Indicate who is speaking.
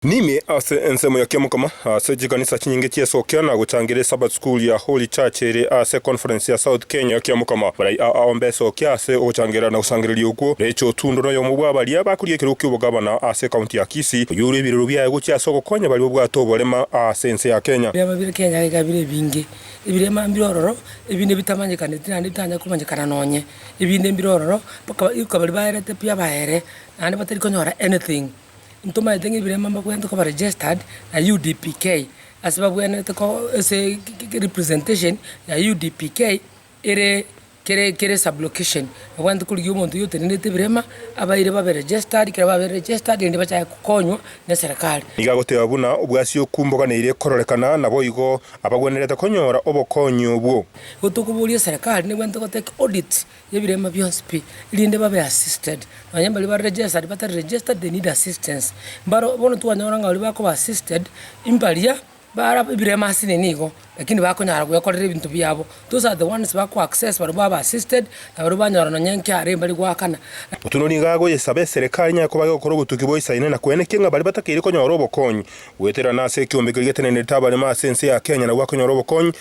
Speaker 1: Nime ase ensemo ya Kiamokama ase chikanisa chinyinge chi'esokia na gochangera eSabbath School ya Holy Church ere ase Conference ya South Kenya. Kiamokama barai aa aombe esokia ase ogochangera na gosangereria okwo. Rachel Otundo noyomo bw'abaria bakorigia ekerogo ki'obogabana ase ekaunti ya Kisii, oyore ebirero biaye gochia ase ogokonya baria babwate oborema aa ase ense ya Kenya. Ebirema bire Kenya iga bire
Speaker 2: ebinge. Ebirema mbire ororo, ebinde bitamanyekaneti naende bitanya komanyekana nonye. Ebinde mbire ororo, mpaka iko baria baerete pi abaere, naende batari konyora anything. Ntomaete ng'a ebireema mbabwate koba registered na UDPK ase babwenerete ko ase representation ya UDPK ere kere kere sub location. Babwate korigia omonto oyio otenenerete ebireema abaire babe registered, ekero babire registered rende bachake kokonywa ne serikali. Nigo agoteba buna
Speaker 1: obwasi okumboganeire kororekana, naboigo abagwenerete konyora obokonyi obwo. Igo tokoboria
Speaker 2: serikali, negwenerete goteba ki audit. Ebirema bionsi pi, erinde babe assisted. Nonya mbaria bare registered, batari registered, they need assistance. Mbaro bono twanyora ng'a baria bakoba assisted, mbaria bara ebirema ase nini igo, lakini bakonyara gwekorera ebinto biabo. Those are the ones bako access baria baba assisted, na baria banyora nonya inki arenge mbari goakana. Otieno nigo
Speaker 1: agoyesaba eserekari inyaye koba egokora obotuki boisaine na kwenekia ng'a baria batakeire konyora obokonyi goetererana ase ekeombe keria getenenerete abarema ase ense ya Kenya nabwo bakonyora obokonyi